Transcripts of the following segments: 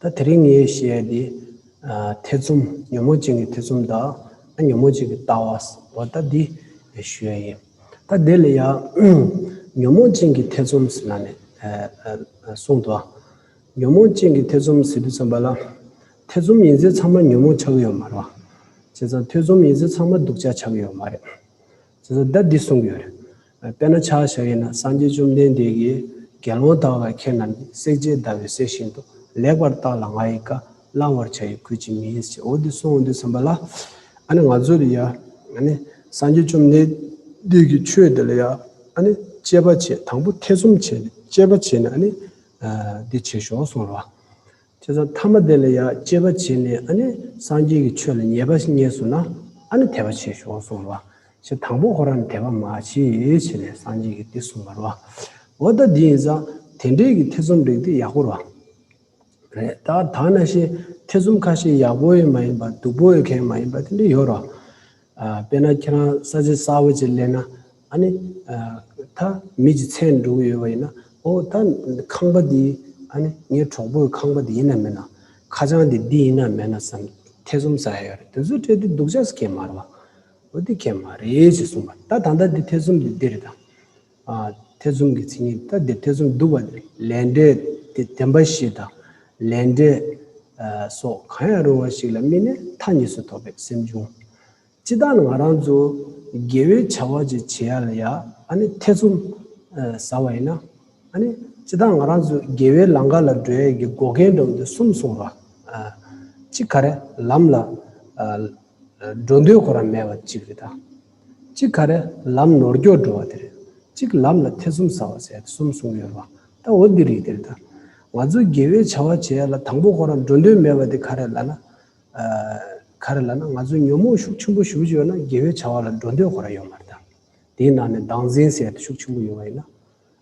ད་དེ་རིང་ངས་བཤད་དེ། ཐེ་ཚོམ། ཉོན་མོངས་ཅན་གྱི་ཐེ་ཚོམ་དང། ཉོན་མོངས་ཅན་གྱི་ལྟ་བ། ཟེར་བ་ད་འདི་ཞོལ་ཡིན། ད་དེ་ལ་ཡང། ཉོན་མོངས་ཅན་གྱི་ཐེ་ཚོམ་ཟེར་ན་ནི། གསུངས་དོ། ཉོན་མོངས་ཅན་གྱི་ཐེ་ཚོམ་ཟེར་དུས་ཚང་པ་ལ། ཐེ་ཚོམ་ཡིན་ཟེར་ཚང་མ་ཉོན་མོངས་ཆགས་ཀྱི་ཡོད་མ་རེད། བྱས་ཙང་ཐེ་ཚོམ་ཡིན་ཟེར་ཚང་མ་སྡུག་ཅག་ཆགས་ཀྱི་ཡོད་མ་རེད། ཟེར་ནས་བརྡ་འདི་གསུངས་ཀྱི་ཡོད་རེད། དཔེར་ན་ཕྱག་བྱ་ཡིན་ན་སངས་རྒྱས་བཅོམ་ལྡན་འདས་ཀྱིས་དགེ་སློང་དག་ལ་ཁྱེད་རྣམས་ཀྱིས་བསྲེག་བྱའི་ཟླ་བའི་ཟེར་བཞིན་དུ་ལེགས་པར་བརྟགས་ལ་ང་ཡི་བཀའ་བླང་བར་བྱ་ཡི་གུས་ཀྱིས་མིན་ཞེས་འོ་འདི་གསུངས་འོ་འདི་ཟིན་པ་ལ། ཨ་ནི་ང་ཚོ་ལ་ཡང་ཨ་ནི་སངས་རྒྱས་བཅོམ་ལྡན་འདས་ཀྱི་ཆོས་འདི་ལ་ཡང་ཨ་ནི་དཔྱད་པ་བྱེད་དང་པོ་ཐེ་ཚོམ་བྱེད་ནས་དཔྱད་པ་བྱེད་ནས་ཨ་ནི་འདི་བྱེད་ཞོག་གསུངས་རོགས། ཁྱེད་ཚོ་ཐ་མ་དེ་ལ་ཡང་གཅེས་པ་བྱས་ནས་ཨ་ནི་སངས་རྒྱས་ཀྱི་ཆོས་ལ་ཉེས་པ་ཞིག་རྙེད་སོང་ན་ཨ་ནི་དད་པ་བྱེད་ཤོག་གསུངས་པ། ཞེས་དང་པོ་ཧོ་ར་ནི་དད་པ་མ་བྱེད་བྱས་ནས་སངས་རྒྱས་ཀྱིས་འདི་གསུངས་པར་བ། འོ་ད་དེ་ཡིན་ཙང་དེ་འདྲས་ཀྱི་ཐེ་ཚོམ་རིགས་དེ་ཡག་པོར་བ། རེད་ད། ད་ནང་བཞིན་ཐེ་ཚོམ་ཁ་ཤས་ཡག་པོ་ཡི་མ་ཡིན་པ་སྡུག་པོ་ཡི་ཁའི་མ་ཡིན་པ་དེ་འདྲས་ཡོད་རོགས། དཔེར་ན་ཁྱེད་རང་ས་ཟི་ས་འོད་ཅིག་གླས་ན། ཨ་ནི། ད་མི་གཅིག་ཚེ་འགྲོ་གི་ཡོད་པ་ཡིན་ན། ཨོ་ད་ཁང་པ་འདི། ཨ་ནི། ངའི་གྲོགས་པོའི་ཁང་པ་འདི་ཡིན་ནམ་མིན་ནམ། ཁ་བྱང་འདི་འདི་ཡིན་ནམ་མིན་ནམ་བསམ། ཐེ་ཚོམ་ཟ་ཡ་ཡོད་རེད་དེ་ཚོ་སྤྲད་དུས་སྡུག་ཅག་སྐྱེས་མ་རེད་པ། འོ་དེ་ཁྱད་མ་རེད་ཅེས་གསུངས་པ། ད་ད་ལྟ་འདི་ཐེ་ཚོམ་འདི་འདི་རེད་དམ། ཐེ་ཚོམ་གྱི་ཚིག་ངན་ལྟ་དེ་ཐེ་ཚོམ་བསྡུ་བ་ནི་ལས་འབྲས་དེ་བདེན་པ་ཞིག་དང། ལས་འབྲས་སོགས་གང་ཡང་རུང་བ་ཞིག་ལ་སྨིན་ནས་མཐའ་གཉིས་སུ་ཐོབ་པའི་སེམས་འབྱུང། ཅི་ལྟར་ང་རང་ཚོ་དགེ་བའི་བྱ་བ་ཅིག་བྱེད་ཡ་ལ་ཡ་ཨ་ནི་ཐེ་ཚོམ་ཟ་བ་ཡིན་ན། ཨ་ནི་ཅི་ལྟར་ང་རང་ཚོ་དགེ་བའི་ལམ་ག་ལ་འགྲོ་ཡ་གི་འགོག་རྐྱེན་འགྲོ་འདི་གསུམ་གསུངས་པ། གཅིག་ག་རེ་ལམ་ལ་འགྲོ་འདོད་ཁོ་རང་མེད་པ་གཅིག་རེད་ད། གཅིག་ག་རེ་ལམ་ནོར་སྐྱོར་འགྲོ་བ་དེ་རེད། གཅིག་ལམ་ལ་ཐེ་ཚོམ་ཟ་བ་ཟས་གསུམ་གསུངས་ཡོད་པ་ད་འོ་འདི་རིགས་དེར་དང། ང་ཚོ་དགེ་བའི་བྱ་བ་བྱས་ཡ་ལ་དང་པོ་ཁོ་རང་འགྲོ་འདོད་མེད་པ་དེ་ག་རེ་ལ་ན། ག་རེ་ལ་ན་ང་ཚོ་ཉོན་མོངས་ཤུགས་ཆེན་པོ་ཞུགས་ཡོད་ན་དགེ་བའི་བྱ་བ་ལ་འགྲོ་འདོད་ཁོ་རང་ཡོད་མ་རེད་དམ། དེའི་ནང་ནས་སྡང་ཟིན་ཟེར་དེ་ཤུགས་ཆེན་པོ་ཡོང་བ་ཡིན་ན།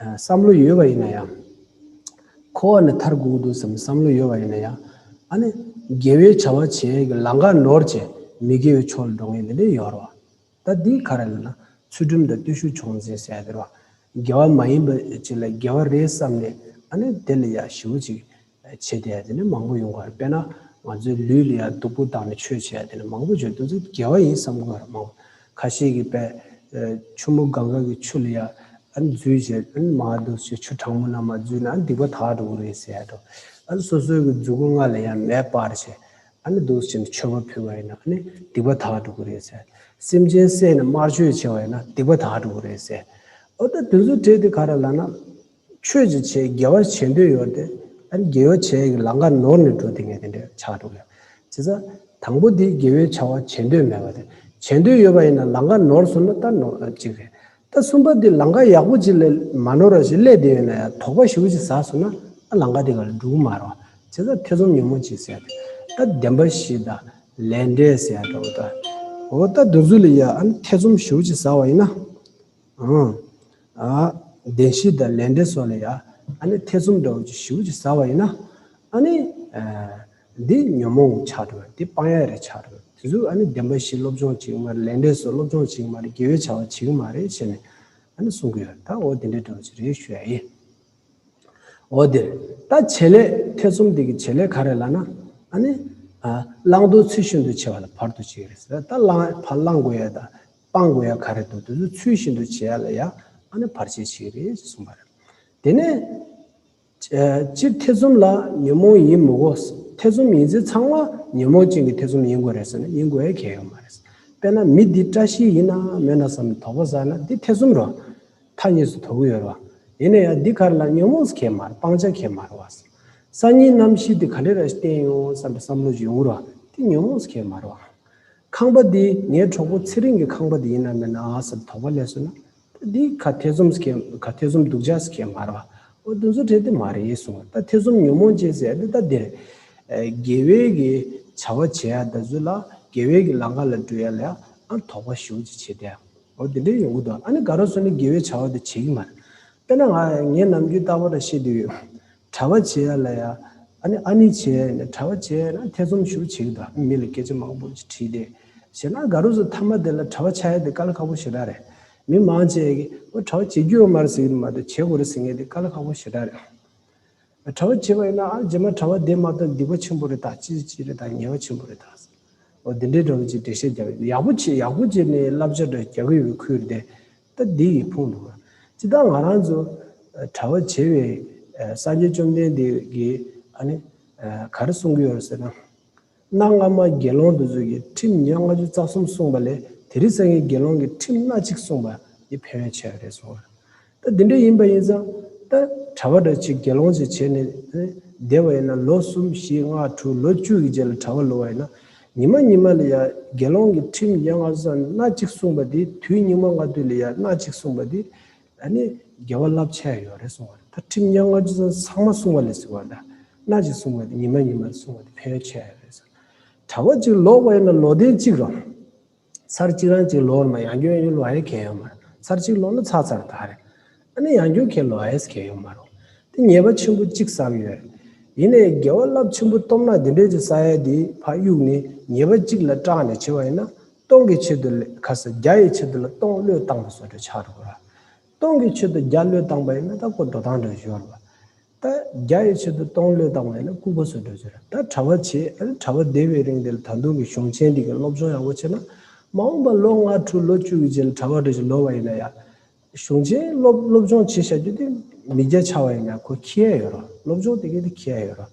བསམ་བློ་ཡོད་པ་ཡིན་ན་ཡང། འཁོར་བ་ནས་མཐར་སྒུག་འདུག་བསམ་བསམ་བློ་ཡོད་པ་ཡིན་ན་ཡང། ཨ་ནི། དགེ་བའི་བྱ་བ་བྱས་ཀྱི་ལང་ཀ་ནོར་བྱས་མི་དགེ་བའི་ཕྱོགས་ལ་འགྲོ་ངེས་འདི་འདྲའི་ཡོད་རེད་བ། ད་འདི་ག་རེ་ལ་ན་ཚུལ་ཁྲིམས་དང་བརྟུལ་ཞུགས་ཆུང་ཟིན་ཟེར་ཡ་འདིར་བ། དགེ་བ་མ་ཡིན་པ་ཅིག་ལ་དགེ་བ་རེད་བསམ་ནས་ཨ་ནི་དེ་ལ་ཡ་ཞི་བོ་ཅིག་བྱས་ཏེ་དེ་ནས་མང་པོ་ཡོང་གར་དཔེར་ན་ང་ཚོའི་ལུས་ལ་སྡུག་པོ་བཏང་ནས་ཆོས་བྱས་དེ་ནས་མང་པོ་བྱོས་དེ་ཚོ་དགེ་བ་ཡིན་བསམ་གར་མང་པོ་ཁ་ཤས་ཀྱི་པད་ཆུ་མོ་གངྒཱ་གི་ཆུ་ལ་ཡང་འཛུལ་བྱས་དེ་ནས་མ་འདུག་ཆུ་ཆུ་གྲང་མོ་ན་མ་འཛུལ་ན་སྡིག་པ་དག་འགྲོ་གི་རེད་ཟེར་ཡ་འགྲོ་ཨ་སོ་སོའི་གི་འཛུལ་སྒོ་ང་ལ་ཡང་མེད་པར་བྱས་ཨ་ནི་འདུག་བྱས་ནས་མཆོད་པ་ཕུལ་བ་ཡིན་ན་ཨ་ནི་སྡིག་པ་དག་འགྲོ་གི་རེད་ཟེར་སེམས་ཅན་བསད་ནས་དམར་མཆོད་བྱས་བ་ཡིན་ན་སྡིག་པ་དག་འགྲོ་གི་རེད་ཟེར་ཨོ་ད་དེ་ཚོ་བྲིས་དེ་ག་རེ་ལ་ན། ཆོས་ཀྱི་ཆེད་རྒྱལ་བར་བྱེད་འདོད་ཡོད་དེ། ཨ་རྒྱལ་བའི་ཆེད་ཡི་གེ་ལང་ཀ་ནོར་ནས་འགྲོ་དེ་ངས་དེ་འདྲས་ཆགས་འགྲོ་གི་རེད། བྱས་ཙང། དང་པོ་དེ་རྒྱལ་བའི་བྱ་བ་བྱེད་འདོད་མེད་པ་དེ། བྱེད་འདོད་ཡོད་པ་ཡིན་ན་ལང་ཀ་ནོར་སོང་ན་ད་ནོར་ཨ་གཅིག་རེད། ད་གསུམ་པ་དེ་ལང་ཀ་ཡག་པོ་གཅིག་ལས་མ་ནོར་བ་ཞིག་ཀླད་དེ་ཡོད་ན་ཡ་དོག་པ་ཞིག་གཅིག་ཟ་སོང་ན་ཨ་ལང་ཀ་དེ་ག་ལ་འགྲུག་གི་མ་རོ། བྱས་ཙང་ཐེ་ཚོམ་ཉུང་མོ་གཅིག་བསལ་དེ། ད་བདེན་པ་ཞིག་ད་ལས་འབྲས་ཟེར་ཡ་འདྲ་བོ་ད། འོ་ད་འདུག་ཚུལ་ལ་ཡ་ཨ་ཐེ་ཚོམ་ཞིག་གཅིག་ཟ་བ་ཡིན་ན། གདན་བཞི་དང་ལས་འབྲེལ་སོགས་ལ་ཡང་ཐེ་ཚོམ་འདྲ་བོ་ཅིག་ཞིབ་ཅིག་ཟ་བ་ཡིན་ན། འདི་ཉོན་མོངས་ཆགས་འགྲོ་བས་འདི་སྤང་ཡ་རེད་ཆགས་འགྲོ་བས་དེ་ཚོ་གདན་བཞི་སློབ་སྦྱོང་བྱེད་ཀྱི་མ་རེད་ལས་འབྲེལ་སོགས་སློབ་སྦྱོང་བྱེད་ཀྱི་མ་རེད་དགེ་བའི་བྱ་བ་བྱེད་ཀྱི་མ་རེད་ཞེས་ནས་གསུང་གི་ཡོད་ད་འོ་དེ་འདྲའི་འདྲ་བོ་ཅིག་རེད་ཞུ་ཡ་ཡིན། འོ་དེར་ད་བྱེད་ལས་ཐེ་ཚོམ་དེ་གི་བྱེད་ལས་ག་རེ་ལ་ན། བླང་དོར་ཚུལ་ཤིན་ཏུ་ཆེ་བ་ལ་བར་དུ་གཅིག་རེད་ཟེར་ད་བླང་དགོས་ཡ་ད། སྤང་དགོས་ཡ་ག་རེད་འདུག་དེ་ཚོ་ཚུལ་བཞིན་དུ་བྱེད་ཡ་ལ་ཡ་ཨ་ནི་བར་ཆད་ཞིག་རེད་ཅེས་གསུངས་པ་རེད། དེ་ནས། སྤྱིར་ཐེ་ཚོམ་ལ་ཉོན་མོངས་ཡིན་མི་དགོས། ཐེ་ཚོམ་ཡིན་ཚེ་ཚང་མ་ཉོན་མོངས་ཅན་གྱི་ཐེ་ཚོམ་ཡིན་དགོས་རེད་ཟེར་ན་ཡིན་དགོས་ཡ་གལ་ཡོད་མ་རེད། དཔེར་ན་མི་འདི་བཀྲ་ཤིས་ཡིན་ནམ་མེད་ན་བསམ་ནས་དོགས་པ་ཟ་ན་འདི་ཐེ་ཚོམ་རེད། མཐའ་གཉིས་སུ་དོགས་གི་ཡོད་རེད། ཡིན་ནའི་ཡ་འདི་ག་རེ་ལ་ཉོན་མོངས་གལ་མ་རེད་སྤང་བྱ་གལ་མ་རེད། སང་ཉིན་ནམ་ཤི་དེ་ག་འདྲ་རེད་བསྟན་ཡོང་བསམ་པའི་བསམ་བློ་ཞིག་ཡོང་རེད། དེ་ཉོན་མོངས་གལ་མ་རེད། ཁང་པ་འདི་ངའི་གྲོགས་པོ་ཚེ་རིང་གི་ཁང་པ་དེ་ཡིན་ནམ་མིན་ནམ་ཨ་ཟེར་དོགས་པ་ལས་སོང་ན། ད་འདི་ག་ཐེ་ཚོམ་ཟེ་གེ་ག་ཐེ་ཚོམ་འདུག་ཅག་ཟེ་གེ་མ་རེད་བ། ཨོ་འདི་ཚོ་བྲེལ་དེ་མ་རེད་གསུངས། ད་ཐེ་ཚོམ་ཉོན་མོངས་ཅན་ཟེར་ཡ་འདི་ད་འདིར། དགེ་བས་ཀྱི་བྱ་བ་བྱེད་ཡ་ད་གཟོད་ལ་དགེ་བས་ཀྱི་ལང་ཀ་ལ་འགྲོ་ཡ་ལ་ཡ་ཨ་དོགས་པ་ཞུ་ཅི་བྱེད་དེ། ཨོ་འདི་འདྲའི་ཡོང་གི་འདུག་ཨ་ནི་ག་རོ་སོང་ནས་དགེ་བའི་བྱ་བ་དེ་བྱེད་ཀྱི་མ་རེད། དཔེར་ན་ང་ངས་ནམ་རྒྱུན་ལྟ་བ་འདྲ་ཤེས་འདོད་ཡོད། གྲྭ་བ་བྱས་ལ་ཡ། ཨ་ནི་ཨ་ནི་བྱས་ནས་གྲྭ་བ་བྱས་ན་ཐེ་ཚོམ་ཞུ་བྱེད་ཀྱི་དང་མི་ལ་སྐད་ཆ་མང་པོ་དྲིས་ཏེ། བྱས་ན་དགའ་རོགས་སུ་མཐའ་མ་དེ་ལ་གྲྭ་བ་བྱས་ཏེ་ཀ་ལ་ཁ་བོ་ཞེ་དྲག་རེད། མི་མང་བྱས་ཀྱི་ཨོ་གྲྭ་བ་བྱེད་རྒྱུ་ཡོད་མ་རེད་ཟེར་གྱི་དུ་མ་རེད་བྱེད་དགོས་རེད་ཟེར་ངེས་ཏེ་ཀ་ལ་ཁ་བོ་ཞེ་དྲག་རེད། གྲྭ་བ་བྱས་པ་ཡིན་ན་ཨ་རྗེས་མ་གྲྭ་བ་དེ་མ་གཏོགས་སྡིག་པ་ཆེན་པོ་རེད་ད་ཅི་ཅི་རེད་ད་ཉེས་བ་ཆེན་པོ་རེད་ད། འོ་དེ་འདྲའི་འདྲ་བོ་ཅིག་འགྲེལ་བཤད་རྒྱག་གི་འདུག་ཡག་པོ་བྱེད་ཡག་པོ་བྱེད་ནས་བསླབ་བྱ་འདྲ་རྒྱག་གི་ཡོད་ཁུལ་བསྡད། སྟབས་བདེ་ཡིས་ཕོངས་འདུག་ལ། ཅི་ལྟར་ང་རང་ཚོ་གྲྭ་བ་བྱེ་བའི་སངས་རྒྱས་བཅོམ་ལྡན་འདས་ཀྱིས་ཨ་ནི། ག་རེ་གསུང་གི་ཡོད་ཟེར་ན། གནའ་སྔ་མ་དགེ་སློང་དུ་ཚོད་ཀྱི་ཁྲིམས་ཉེར་ལྔ་བཅུ་རྩ་གསུམ་གསུངས་པ་ལས་དེ་རིང་སངས་རྒྱས་དགེ་སློང་གི་ཁྲིམས་སྣ་གཅིག་གསུངས་པ་འདི་ཕན་ཡོན་ཆེ་བ་རེད་གསུང་ལ། ད་འདི་འདྲ་ཡིན་པ་ཡིན་ཙང་ད་གྲྭ་བ་འདྲ་ཆེ་དགེ་སློང་ཆེ་བྱས་ནས་ཨ་ནི་བསྡད་པ་ཡིན་ན་ལོ་གསུམ་བཞི་ལྔ་དྲུག་ལོ་བཅུ་ཡི་རྗེས་ལ་གྲྭ་བ་ལུས་བ་ཡིན་ན་ཉི་མ་ཉི་མ་ལ་ཡང་དགེ་སློང་གི་ཁྲིམས་ཡན་ལག་བཟའ་སྣ་གཅིག་བསྲུངས་པ་དེ་དུས་སྙིགས་མ་ལྔ་བདོའི་ལ་ཡང་སྣ་གཅིག་བསྲུངས་པ་དེ་ནི་དགེ་བ་རླབས་ཆེན་ཡོད་རེད་གསུངས་པ་རེད་ད་ཁྲིམས་ཡན་ལག་བཅུ་བཟའ་ཚང་མ་བསྲུངས་པ་ལས་ཟེར་བ་ལ་སྣ་གཅིག་བསྲུངས་པ་དེ་ཉི་མ་ཉི་མ་བསྲུངས་པ་དེ་ཕན་ཡོད་ཆེ་ཡོད་རེད་གསུངས། གྲྭ་བ་གཅིག་ལོག་པ་ཡིན་ན་ལོ་ཟླའི་གཅིག་རོ། ཚར་གཅིག་རང་གཅིག་ལོར་མ་ཡང་སྐྱོན་ཡོད་ལོ་ཨའི་གལ་ཡོད་མ་རེད་ཚར་གཅིག་ལོར་ལོ་ཚར་ཚར་དག་རེད་ཨ་ནི་ཡང་སྐྱོན་གལ་ལོ་ཨའི་གལ་ཡོད་མ་རུང་དེ་ཉེས་པ་ཆེན་པོ་གཅིག་བསམ་ཡོད་རེད་ཡིན་ནའི་རྒྱལ་བ་རླབས་ཆེན་པོ་སྟོབས་ནག་འདི་འདྲས་ཀྱི་ས་ཡ་འདིའི་ཕ་དབྱུག་ནི་ཉེས་པ་གཅིག་ལ་སྐྲག་ནས་བྱས་བ་ཡིན་ན་སྟོང་གི་ཆེད་དུ་ལས་ཁ་ས་བརྒྱ་ཡི་ཆེད་དུ་ལ་སྟོང་བློས་བཏང་བ་བཟོ་འདྲ་ཆགས་འགྲོ་གི་ར་སྟོང་གི་ཆེད་དུ་བརྒྱ་བློས་བཏང་པ་ཡིན་ན་ད་ཀོ་འགྲོ་སྟངས་འདྲ་བཞོར་བ། ད་རྒྱ་ཡི་ཆེད་དུ་སྟོང་བློས་བཏང་བས་ན་སྐུ་གོ་སོད་འགྲོ་ཟེར། ད་གྲྭ་བ་བྱས་ཨ་རེ་གྲྭ་བ་སྡེ་བའི་རིང་འདིར་ད་དུང་གི་གཞུང་ཆེན་འདི་གི་སློབ་སྦྱོང་ཡག་པོ་བྱས་ན། མ་འོངས་པ་ལོ་ལྔ་དྲུག་ལོ་བཅུ་གི་རྗེས་ལ་གྲྭ་བ་འགྲོ་ཞིག་ལོ་བ་ཡིན་ན་ཡང། གཞུང་ཆེན་སློབ་སློབ་སྦྱོང་བྱེད་བཞག་རྒྱུ་དེ་མི་བརྒྱ་ཆ་བ་ཡིན་ན་གོ་ཁྱི་ཡ་ཡོད་རོགས་སློབ་སྦྱོང་དེ་གའི་དེ་ཁྱི་ཡ་ཡོད་རོགས།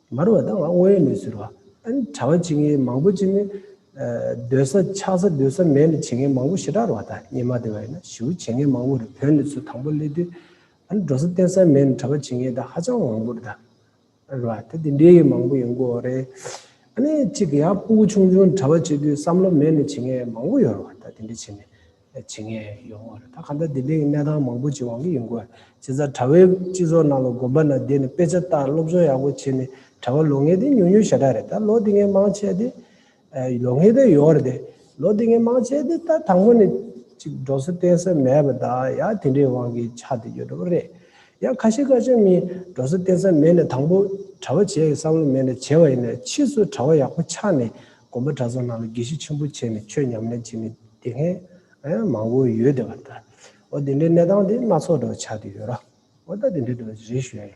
མར་བ་དང་དངོས་ཡོད་གནས་ཚུལ་རོ། གྲྭ་བ་བྱེད་མཁན་མང་པོ་བྱེད་ནི། སྡོད་ས་ཆགས་ས་སྡོད་ས་མེད་ནི་བྱེད་མཁན་མང་པོ་ཞེ་དྲག་རུ་བ་དང་གཉེན་མ་དེ་བ་ཡིན་ན་ཞི་བོ་བྱེད་མཁན་མང་པོ་རུ་བོད་ནས་ཚུར་དང་པོ་སླེབས་དུས། འགྲོ་ས་བསྟེན་ས་མེད་ནི་གྲྭ་བ་བྱེད་མཁན་དང་ཧ་ཅང་མང་པོ་རུ་དང། རུ་བ་དེ་དེ་འདྲའི་མང་པོ་ཡོད་འགོ་རེད། གཅིག་ཡང་སྤུ་གུ་ཆུང་ཆུང་གྲྭ་བ་བྱེད་དུས་བསམ་བློ་མེད་ནི་བྱེད་མཁན་མང་པོ་ཡོད་རུ་བ་དང་དེ་འདྲ་བྱེད་ནི། བྱེད་ངེས་ཡོང་བ་རེད། ད་ག་ལྟར་དེ་འདྲའི་གནས་སྟངས་མང་པོ་ཅིག་ཡོང་གི་ཡོང་གི་ཡོད། བྱས་ཙང་གྲྭ་བའི་སྤྱི་ཚོགས་ནང་ལ་དགོན་པ་ནང་བསྡད་ནས་དཔེ་ཆ་བལྟ་སློབ་སྦྱོང་ཡག་པོ་བྱས་ནས་གྲྭ་བ་ལོག་ངེས་དེ་ཉུང་ཉུང་ཞེ་དྲག་རེད། ད་ལོ་དེ་ངས་མང་ཆེ་དེ་ལོག་ངེས་དེ་ཡོད་རེད། ལོ་དེ་ངས་མང་ཆེ་དེ་ད་དང་པོ་ནས་ཅིག་འགྲོ་ས་བསྟེན་ས་མེད་པ་དང་ཡང་དེ་འདྲའི་དབང་གིས་ཆགས་དེ་ཡོད་འགྲོ་བ་རེད། ཡང་ཁ་ཤས་ཁ་ཤས་མིན་འགྲོ་ས་བསྟེན་ས་མེད་ནས་དང་པོ་གྲྭ་བ་བྱེད་ཀྱི་བསམ་བློ་མེད་ནས་བྱས་པ་ཡིན་ནས་ཕྱིས་སུ་གྲྭ་བ་ཡག་པོ་ཆགས་ནས་དགོན་པ་གྲྭ་ཚང་ནང་ལ་དགེ་བཤེས་ཆེན་པོ་བྱས་ནས་ཆོས་ཉམས་ལེན་བྱེད་མི་དེ་མཁན་མང་བོ་ཡོད་དེ་བ་ད་འོ་དེ་འདྲའི་གནས་སྟངས་དེ་སྣ་ཚོགས་འདྲ་བ་ཆགས་དེ་ཡོད་རོ་འོ་ད་དེ་འདྲའི་འདྲ་བ་རེ་ཞུས་ཡ་ཡིན།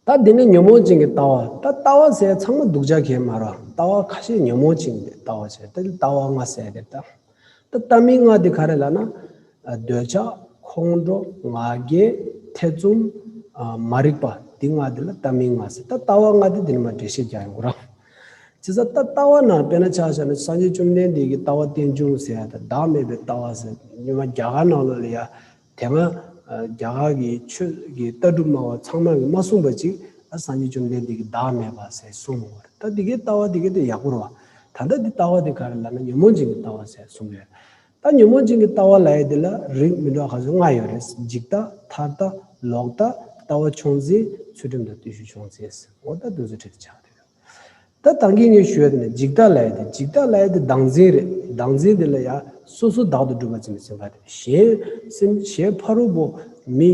ད་འདི་ནི་ཉོན་མོངས་ཅན་གྱི་ལྟ་བ་ད་ལྟ་བ་ཟེར་ཡ་ཚང་མ་སྡུག་ཅག་གེ་མ་རོ་ལྟ་བ་ཁ་ཤས་ཉོན་མོངས་ཅན་གྱི་ལྟ་བ་བྱས་ད་ལྟ་བ་ང་ཟེར་ཡ་དེ་ལྟ་ད་ལྟ་མི་ལྔ་དེ་ག་རེ་ལ་ན། འདོད་ཆགས། ཁོང་ཁྲོ། ང་རྒྱལ། ཐེ་ཚོམ། མ་རིག་པ། དེ་ལྔ་དེ་ལ་ལྟ་མི་ལྔ་ཟེར་ད་ལྟ་བ་ལྔ་དེ་དེ་ནི་མ་འདྲེས་ཤེས་རྒྱ་ཡོང་གི་རང། བྱས་ཙང་ད་ལྟ་བ་ན་དཔེ་ན་ཆགས་བྱ་ན་སངས་རྒྱས་བཅོམ་ལྡན་འདས་ཀྱི་ལྟ་བ་རྟེན་འབྱུང་ཟེར་ཡ་ད་བདག་མེད་པའི་ལྟ་བ་ཟེར་སྙོན་མ་རྒྱ་གར་ནང་ལོ་ལ་ཡ། དེ་སྔ་རྒྱ་གར་གྱི་ཆོས་ཀྱི་ལྟ་གྲུབ་སྨྲ་བ་ཚང་མ་གིས་མ་གསུངས་པ་ཅིག་ཨ་སངས་རྒྱས་བཅོམ་ལྡན་འདས་ཀྱིས་བདག་མེད་པ་ཟེར་གསུངས་མྱོང་བ་རེད་ད་འདི་གའི་ལྟ་བ་འདི་ག་དེ་ཡག་པོ་རེད་བ། ད་ལྟ་འདི་ལྟ་བ་འདི་ག་རེད་ལབ་ན་ཉོན་མོངས་ཅན་གྱི་ལྟ་བ་ཟེར་གསུངས་ཡོད་རེད། ད་ཉོན་མོངས་ཅན་གྱི་ལྟ་བ་ལ་ཡེ་འདི་ལ་རིགས་མི་འདྲ་ག་ཚོད་ལྔ་ཡོད་རེད་འཇིག་ལྟ་ཐར་ལྟ་ལོག་ལྟ། ལྟ་བ་ཆུང་འཛིན་ཚུལ་ཁྲིམས་དང་བརྟུལ་ཞུགས་ཆུང་འཛིན་ཟེར་ངོ་ལྟ་འདི་ཚོ་ཁྲིད་དུ་ཆགས་འདུག་ད་ལྟ་མཁན་ངན་ཞུ་བ་དེ་ནི་འཇིག་ལྟ་ལ་ཡ་དེ་འཇིག་ལྟ་ལ་ཡ་དེ་བདག་འཛིན་རེད་བདག་འཛིན་དེ་ལ་ཡ་སོ་སོ་བདག་ཏུ་སྒྲུབ་པ་ཙམ་ཟིན་པ་དེ་གཞན་སེམས་གཞན་ཕ་རོལ་པོ་མི་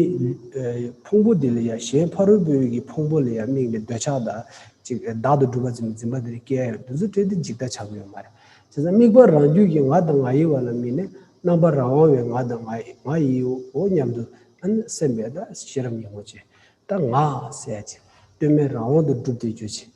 ཕུང་པོ་དེ་ལ་ཡ་གཞན་ཕ་རོལ་པོའི་ཡི་ཕུང་པོ་ལ་ཡ་དམིགས་ནས་འདོད་ཆགས་དང་ཅིག་བདག་ཏུ་སྒྲུབ་པ་ཙམ་འཛིན་པ་དེ་ནི་སྐྱེ་ཡང་དུས་ཚོད་སྤྲད་དེ་འཇིག་ལྟ་ཆགས་ཡོད་མ་རེད། དེ་ཚ་དམིགས་པ་རང་རྒྱུད་ཀྱི་ང་དང་ང་ཡི་བ་ལ་དམིགས་ནས་རྣམ་པར་རང་དབང་བའི་ང་དང་ང་ཡི་བའོ་སྙམ་དུ་ཨན་སེམས་པས་ད་ཤེས་རབ་ཉིན་མོ་བྱེད་ད་ང་སེ་ཡ་ཅིག་བསྟོད་སྨད་རང་དབང་དུ་སྒྲུབ་དེ་རྗོད་བྱེད་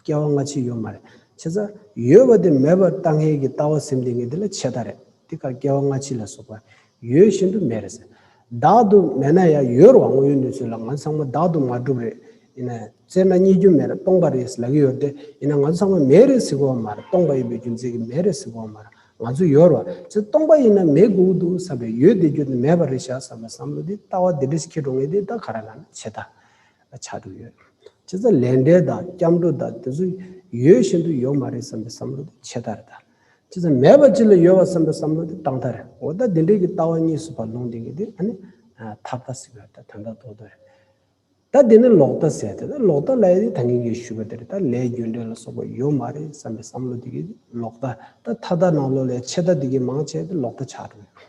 སྐྱེ་བ་སྔ་ཕྱི་ཡོད་མ་རེད། ཆེ་ས། ཡོད་པ་དེ་མེད་པར་ལྟ་ངན་གྱི་ལྟ་བ་སེམས་སྡེ་ངན་དེ་ལ་ཆེ་ད་རེད། དེ་ཁར་སྐྱེ་བ་སྔ་ཕྱི་ལ་སོགས་པ། ཡོད་བཞིན་དུ་མེད་རེད་ཟེར། བདག་ཏུ་མེད་ན་ཡང་ཡོད་རུང་དངོས་ཡོད་གནས་ཚུལ་ལ་ང་ཚོ་ཚང་མ་བདག་ཏུ་མ་གྲུབ་རེད། ཡིན་ན། བཙལ་ན་རྙེད་རྒྱུ་མེད་རེད་སྟོང་པ་རེད་ལབ་ཀྱི་ཡོད་དེ། ཡིན་ན་ང་ཚོ་ཚང་མ་མེད་རེད་ཟེར་དགོས་པ་མ་རེད་སྟོང་པ་ཡིན་པའི་རྒྱུ་མཚན་གྱིས་མེད་རེད་ཟེར་དགོས་པ་མ་རེད་ང་ཚོ་ཡོད་རུང། ཆེ་ས་སྟོང་པ་ཡིན་ན་མེད་དགོས་ཀྱི་འདུག་བསམ་པའི་ཡོད་བདེ་རྒྱུ་དེ་མེད་པ་རེད་བཞག་བསམ་པའི་བསམ་བློ་དེ་ལྟ་བ་དེ་འདྲ་ཞིག་ཁྱེད་འགྲོ་ངེས་དེ་ད་ག་རེ་ལ་ན་ཆེ་ད། ཆགས་འགྲོ་ཡོད། ཇི་ཙམ་ལས་འབྲས་དང་སྐྱབས་འགྲོ་དང་དེ་ཚོ་ཡོད་བཞིན་དུ་ཡོད་མ་རེད་བསམ་པའི་བསམ་བློ་དེ་ཆད་ལྟར་དང། ཇི་ཙམ་མེད་པ་ཅིག་ལ་ཡོད་བ་བསམ་པའི་བསམ་བློ་དེ་བཏང་ལྟར། འོ་ད་འདི་འདྲའི་གི་ལྟ་བ་གཉིས་སུ་བར་ལུང་འདི་གི་དེ་ཨ་ནི། ཐབས་ལྟ་སི་བར་ད་དོན་དང་ལྡོག་ལྟར། ད་འདི་ནི་ལོག་ལྟ་ཟེར་ཏེ་ད་ལོག་ལྟ་ལ་ཡི་དེ་ད་ངེད་ཀྱིས་ཞུས་པ་དེ་རེད་ད་ལས་རྒྱུ་འབྲས་ལ་སོགས་པ་ཡོད་མ་རེད་བསམ་པའི་བསམ་བློ་དེ་གི་ལོག་ལྟ། ད་མཐའ་དག་ནང་ལོག་ལས་ཆད་ལྟ་དེ་གི་མང་ཆད་དེ་ལོག་ལྟ་ཆགས་འགྲོ་ཡོད།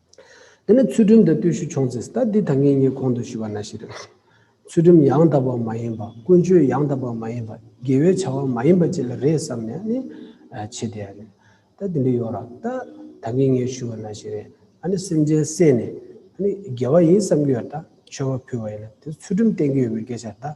དེ་ནས་ཚུལ་ཁྲིམས་དང་བརྟུལ་ཞུགས་ཆོག་མཛད་ཟླ་འདི་དང་ངེད་གཉིས་གོང་དུ་ཞུ་བ་ན་ཞེས་རེ་བ། ཚུལ་ཁྲིམས་ཡང་དག་པ་མ་ཡིན་པ་ཀུན་སྤྱོད་ཡང་དག་པ་མ་ཡིན་པ་དགེ་བའི་བྱ་བ་མ་ཡིན་པ་བཅས་ལ་རེ་བསམ་ནས་ནི། བྱེད་དེ། ཟླ་འདི་འདྲ་ཡོང་རོགས། ཟླ་ད་ངེད་གཉིས་ཞུ་བ་ན་ཞེས་རེ་ནས་སེམས་ཅན་བསད་ནས། དགེ་བ་ཡིན་བསམ་གྱི་ཡོད་ད་མཆོད་པ་ཕུལ་བ་ཡིན་ན་དེ་ཚུལ་ཁྲིམས་བསྟན་གྱི་ཡོད་པའི་སྐད་ཆ་ད།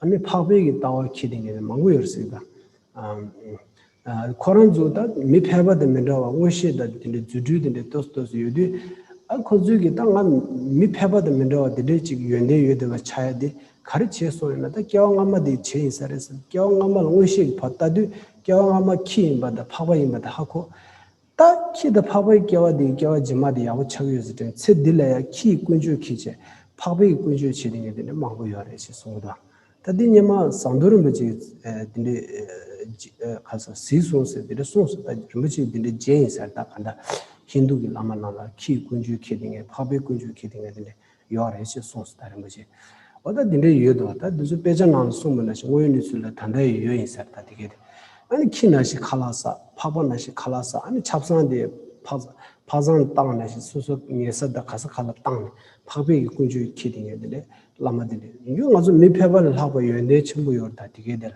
ཨ་མའི་འཕགས་པའི་གི་ལྟ་བ་ཁྱི་དེ་ངས་མང་པོ་ཡོད་རེད་ཟེར་གདའ། ཁོ་རང་ཚོ་ད་མི་ཕལ་པ་དང་མི་འདྲ་བ་མངོན་ཤེས་དང་དེ་འདྲའི་རྫུ་འཕྲུལ་དེ་འདྲའི་ལྟོས་སུ་ལྟོས་སུ་ཡོད་དུས། ཨ་ཁོ་ཚོའི་གི་ད་ང་མི་ཕལ་པ་དང་མི་འདྲ་བ་དེ་འདྲའི་ཅིག་ཡོན་ཏན་ཡོད་དེ་བ་ཆ་ཡ་དེ་ག་རེ་བྱས་སོང་ཡོད་ན་ད་སྐྱེ་བ་སྔ་མ་དེའི་བྱས་ཡིན་ས་རེད་ཟེར་སྐྱེ་བ་སྔ་མ་ལ་མངོན་ཤེས་ཀྱི་བར་ལྟ་དུས་སྐྱེ་བ་སྔ་མ་ཁྱི་ཡིན་པ་དང་འཕགས་པ་ཡིན་པ་དེ་ཧ་གོ། ད་ཁྱི་དང་ཕག་པའི་སྐྱེ་བ་དེའི་སྐྱེ་བ་རྗེས་མ་དེ་ཡག་པོ་ཆགས་ཡོད་ཟེར་དོན་ཚེ་འདི་ལ་ཡང་ཁྱི་ཡི་ཀུན་སྤྱོད་ཁྱི་བྱེད་ཕག་པའི་ཀུན་སྤྱོད་བྱེད་དེ་ཉིད་དེ་འདྲ་མང་པོ་ཡོད་རེད་ཅེས་གསུངས་པ་དང། ད་འདི་སྙེ་མ་ཟངས་མདོས་རིན་པོ་ཆེ་འདི་འདྲའི་ག་ས་ཟིས་སོང་ཟེར་འདི་འདྲ་གསུངས་སོང་ད་རིན་པོ་ཆེ་འདི་འདྲའི་རྗེ་ཡིན་ཟེར་ད་ག་འདྲ། ཧིན་རྡུ་གི་བླ་མ་རྣམས་ལ་ཁྱི་ཡི་ཀུན་སྤྱོད་ཁྱི་དེ་ངས་ཕག་པའི་ཀུན་སྤྱོད་ཁྱི་དེ་ངས་དེ་འདྲའི་ཡོད་རེད་ཅེས་གསུངས་སོ་ད་རིན་པོ་ཆེས། ཨོ་ད་འདི་འདྲས་ཡོད་དོ་ད་འདི་ཚོ་དཔེ་ཆ་ནང་ལ་གསུངས་པ་ན་ཞིག་དངོས་ཡོད་གནས་ཚུལ་ལ་ད་འདྲ་ཡོད་ཡོད་ཡིན་ཟེར་ད་འདི་སྐད་དེ། ཨ་ནི་ཁྱི་ན་ཞིག་ཁ་ལག་ཟ་ཕག་པ་ན་ཞིག་ཁ་ལག་ཟ་ཨ་ནི་ཆབ་གསང་དེ་ཕག་ཕག་ཟང་བཏང་ན་ཞིག་སོ་སོ་ངལ་ས་དང་ག་ས་ག་ལ་བཏང་ནས་ཕག་པས་ཀྱི་ཀུན་སྤྱོད་ཁྱི་དེ་ངས་དེ་ལས་བླ་མ་དེ་ལས་ཡིན་རྒྱུ་ང་ཚོ་མི་ཕལ་པ་ལས་ལྷག་པའི་ཡོན་ཏན་ཆེན་པོ་ཡོད་རེད་ད་འདི་སྐད་དེ།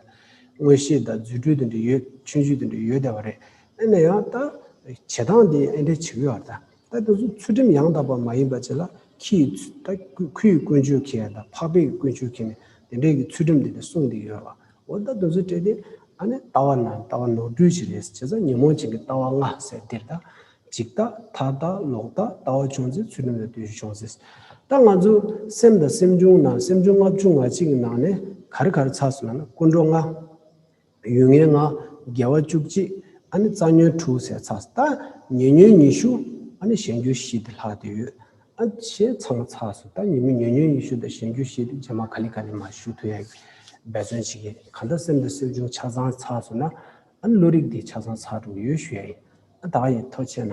མངོན་ཤེས་དང་རྫུ་འཕྲུལ་དེ་འདྲས་ཡོད་ཆོས་བརྒྱུད་དེ་འདྲས་ཡོད་བསྡད་པ་རེད་ཨེ་ན་ཡང་ད། བྱེད་སྟངས་དེ་ཨེ་འདྲས་བྱེད་ཀྱི་ཡོད་རེད་ད། ད་དེ་ཚོ་ཚུལ་ཁྲིམས་ཡང་དག་པ་མ་ཡིན་པ་བྱེད་ལ་ཁྱིས་ད་ཁོས་དཀོན་ཅོལ་ཁྱེད་ད་འཕགས་པས་དཀོན་ཅོལ་ཁྱེད་ནས་དེ་འདྲས་ཀྱི་ཚུལ་ཁྲིམས་དེ་འདྲས་གསུངས་དེ་ཡོད་ལ་འོ་ད་དེ་ཚོ་བྲེད་དེ་ཨ་ནི་ལྟ་བ་ན་ལྟ་བ་ནོར་འཁྲུལ་ཞིག་རེད་བྱས་ཙང་ཉོན་མོངས་ཅན་གྱི་ལྟ་བ་ལྔ་ཟེར་དེར་ད་འཇིག་ལྟ་ཐར་ལྟ་ལོག་ལྟ་ལྟ་བ་བྱུང་ཚེ་ཚུལ་ཁྲིམས་ལ་ལྟོས་ཤིག་བྱུང་ཚེ་ད་ང་ཚོ་སེམས་དང་སེམས་བྱུང་ན་སེམས་བྱུང་ལྔ་བྱུང་ང་གཅིག་གི་ནང་ནས་ག་རེ་ག་རེ་ཚགས་སུ་ལ་ན་ཀུན་འགྲོ་ལྔ། ཡུལ་ངན་ལྔ། རྒྱལ་བ་བཅུ་གཅིག། ཨ་ནི་རྩ་ཉོན་དྲུག་ཟས་ཚ་ཟ། ཉེ་ཉོན་ཉི་ཤུ། ཨ་ནི་གཞན་རྒྱུ་བཞི་སྟེ་ལྷག་དེ་ཡོད། ཨ་ཆེན་ཚང་མ་ཚགས་སུ་བལྟ། ཉི་མི་ཉེ་ཉོན་ཉི་ཤུ་དང་གཞན་རྒྱུ་བཞི་སྟེ་རྗེས་མ་ག་ལི་ཀ་ནི་མ་ཞུ་དུ་ཡང་འབད་བརྩོན་བྱེད་ཀྱིན། གང་ལྟར་སེམས་དང་སེམས་བྱུང་ཆ་ཚང་ཚགས་སུ་ན། ཨ་ནི་བློ་རིག་དེའི་ཆ་ཚང་ཚགས་དྲུག་ཡོད་ཞུ་ཡ་ཡིན། ཨ་བདག་ཡིན་ཐོ་ཆེ་ན།